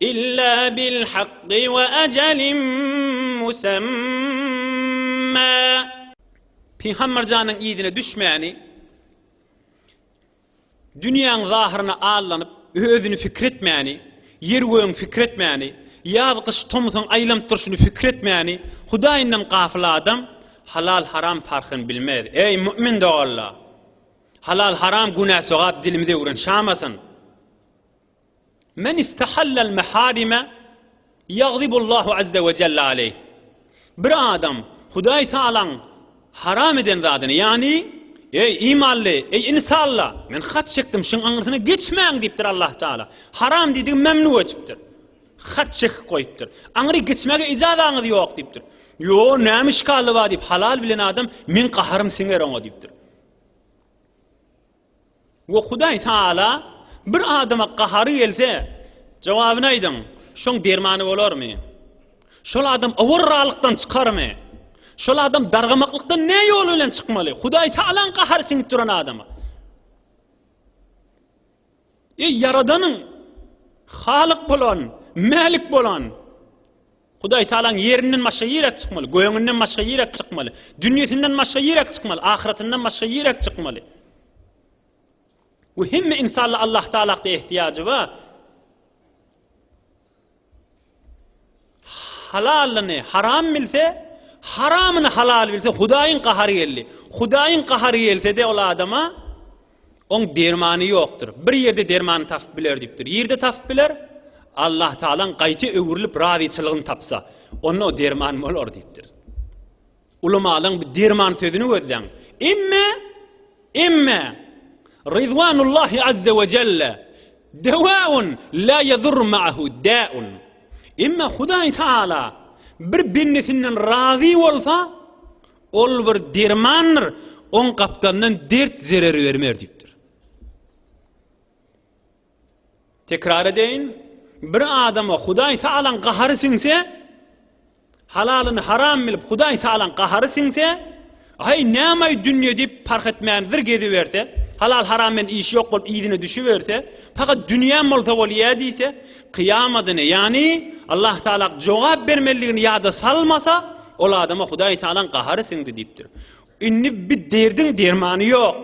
Illa bil hakky we ajalin musamma. Pygamber janyň yzyna düşmäni, dünýäň zahyryna allanyp, özüni pikir etmäni, ýer-gögüň pikir etmäni, ýaz-gyş, tomsuň aýlanyp durşuny pikir etmäni, Hudaýyndan gafyl adam halal-haram parhyny bilmez. Eý, mu'min doganlar! Halal-haram, günä-sogap dilimizi öwrenşamasyn. Men istahallal meharime ýagzibullahu azze we jelle aleyh. Bir adam Hudaý Tagalaň haram eden zadyny, ýagny, Eý, imanly, eý, insalla, men hat çekdim, şuň aňyrsyna geçmäň diýipdir Allah Tagala. Haram diýdigi memnu edipdir. Hat çekip goýupdyr. Aňyry geçmäge ijazaňyz ýok diýipdir. Ýo, näme işgally bar diýip, halal bilen adam, meň gaharym siňer oňa diýipdir. We Hudaý Tagala bir adama gahary gelse, jogabyny aýdyň, şoň dermany bolarmy? Şol adam owarralykdan çykarmy? Şol adam dargamaklykdan ne ýol bilen çykmaly? Hudaý Tagalaň gahary siňip duran adama. Eý, Ýaradanyň, Halyk bolan, Mälik bolan, Hudaýtagalaň ýerinden başga ýiräk çykmaly, gögünden başga ýiräk çykmaly, dünýesinden başga ýiräk çykmaly, ahyratyndan başga ýiräk çykmaly. Bu hemme insalla Allahtaalakda ehtiýajy ba. Halalyny haram bilse, haramyny halal bilse, Hudaýyň gahary geldi. Hudaýyň gahary gelse-de ol adama Oň dermany ýokdur. Bir ýerde dermany tapyp biler diýipdir. Ýerde tapyp biler? Allah Tagalaň gaýta öwrülip razyçylygyny tapsa, onda o derman bolar diýipdir. Ulamalaň bu derman sözüni gözläň. Emme, emme Rizwanullahi azza we jelle dewaun la yadur ma'ahu da'un. Emme Hudaý Tagala bir bendesinden razy bolsa, Ol bir dermandyr, oň gapdalyndan dert zerer bermer diýipdir. Tekrar edeýin, bir adama Hudaý Tagalaň gahary siňse, halalyny haram bilip Hudaý Tagalaň gahary siňse, aý nämaý dünýe diýip parh etmän wir geziberse, halal-haram bilen işi ýok bolup yzyna düşüberse, pakat dünýäm bolsa bolýa diýse, Kyýamadyny, ýagny Allah Tagala jogap bermelidigini ýada salmasa, ol adama Hudaý Tagalaň gahary siňdi diýipdir. Indi bi derdiň dermany ýok.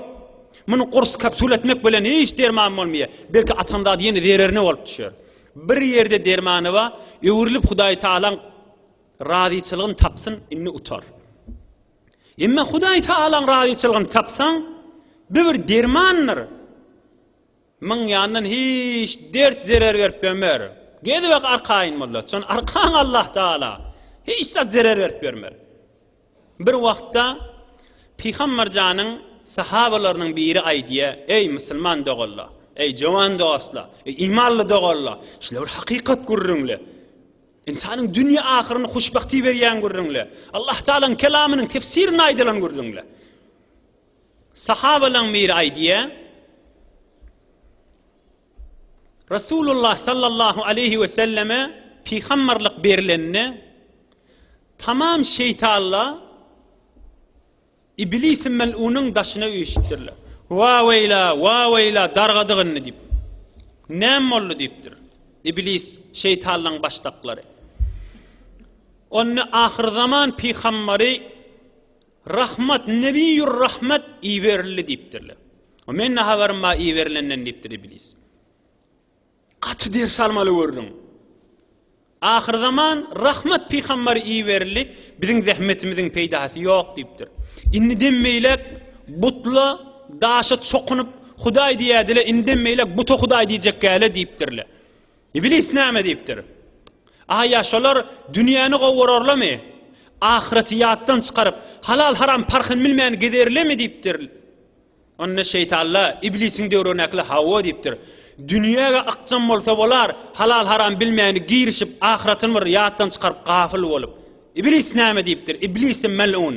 Muny gurs kapsula etmek bilen hiç derman bolmaýar. Belki atan zady ýene zererine bolup düşer. Bir ýerde dermany bar, öwrülip Hudaý Tagalaň razyçylygyny tapsyn, indi utar. Emma Hudaý Tagalaň razyçylygyny tapsaň, bi bir dermandyr. Myň ýandan hiç dert zerer berip bemer. Gezibak arkaýyn molla. Çyn arkaň Allah Taala. Hiç zat zerer berip bermer. Bir wagtda Pygambar janyň sahabalarynyň biri aýdýa, Eý musulman doganlar! Eý jowan dostlar! Eý imanly doganlar! Şile bir hakykat gürrüňle. Ynsanyň dünýe ahyryny huşbagty berýän gürrüňle. Allah Taalaň kelamynyň tefsirini aýdylan gürrüňle. Sahabalaň biri aýdýar, Resulullah sallallahu aleýhi weselleme pygamberlik berilende, tamam şeýtanla Iblisi mel'unyň daşyna üýşüpdirler. Wa-weýla, wa-weýla dargadyk indi diýip. Näme boldy diýipdir. Iblis şeýtanlaň başdaklary. Onda ahyrzaman pygamberi Rahmat, Nebiýur Rahmat iberildi diýipdirler. O men ne habarym bar iberilenden diýipdir iblis. Gaty ders almaly gördüň. Ahyrzaman Rahmat pygamber iberildi, biziň zähmetimiziň peýdasy ýok diýipdir. Indiden beýläk butla, daşa çokunyp Hudaý diýädile, indiden beýläk buta Hudaý diýjekgäle diýipdirler. Iblis näme diýipdir? A ýa şolar dünýäni gowurarlamy? Ahyreti ýatdan çykaryp, halal-haram parhyny bilmän gezerlemi diýipdir? Onda şeýtanla Iblisiň döwründäkiler hawa diýipdir. Dünýä-ge ykjam bolsa bolar, halal-haram bilmäni girişip, ahyretini bir ýatdan çykaryp, gafyl bolup. Iblis näme diýipdir? Iblisi mel'un.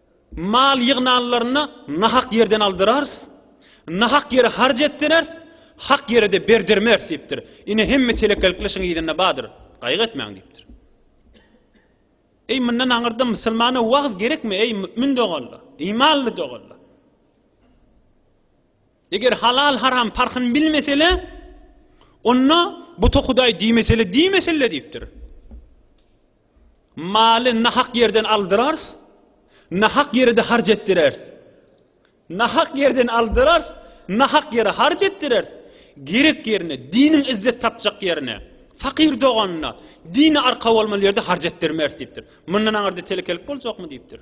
Mal ýygnanlaryny nahak ýerden aldyrarys, nahak ýere harç etdireris, hak ýere-de berdirmeris diýipdir. Ine, hemme telekelik lyşyň yzynda bardyr, gaýgy etmäň diýipdir. Eý, mundan aňyrda musulmana wagyz gerekmi, eý, mümin doganlar, imanly doganlar? Eger halal-haram parhyny bilmesele, onda buta hudaý diýmesele, diýmeselle diýipdir. Maly nahak ýerden aldyrars, nahak ýere-de harç etdirers. Nahak ýerden aldyrars, nahak ýere harç etdirers. Gerek ýerine, diniň izzet tapjak ýerine, fakyr doganyna, dine arka bolmaly ýerde harç etdirmeris diýipdir. Mundan aňyrda telekelik boljakmy diýipdir.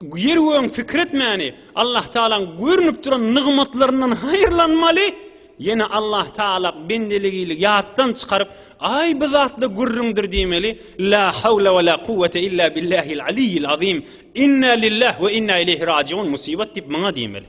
Ýer-gögüň fikretmäni Allahtagalaň görnüp duran nygmatlaryndan haýyrlanmaly, ýene Allahtagala bendeligili ýatdan çykaryp, Aý bu zatla gürrüňdir diýmeli, La hawla we la kuwwete illa billahil aliyyil azim, Inna lillah we inna ileýhi rajiun, Musibat diýip maňa diýmeli.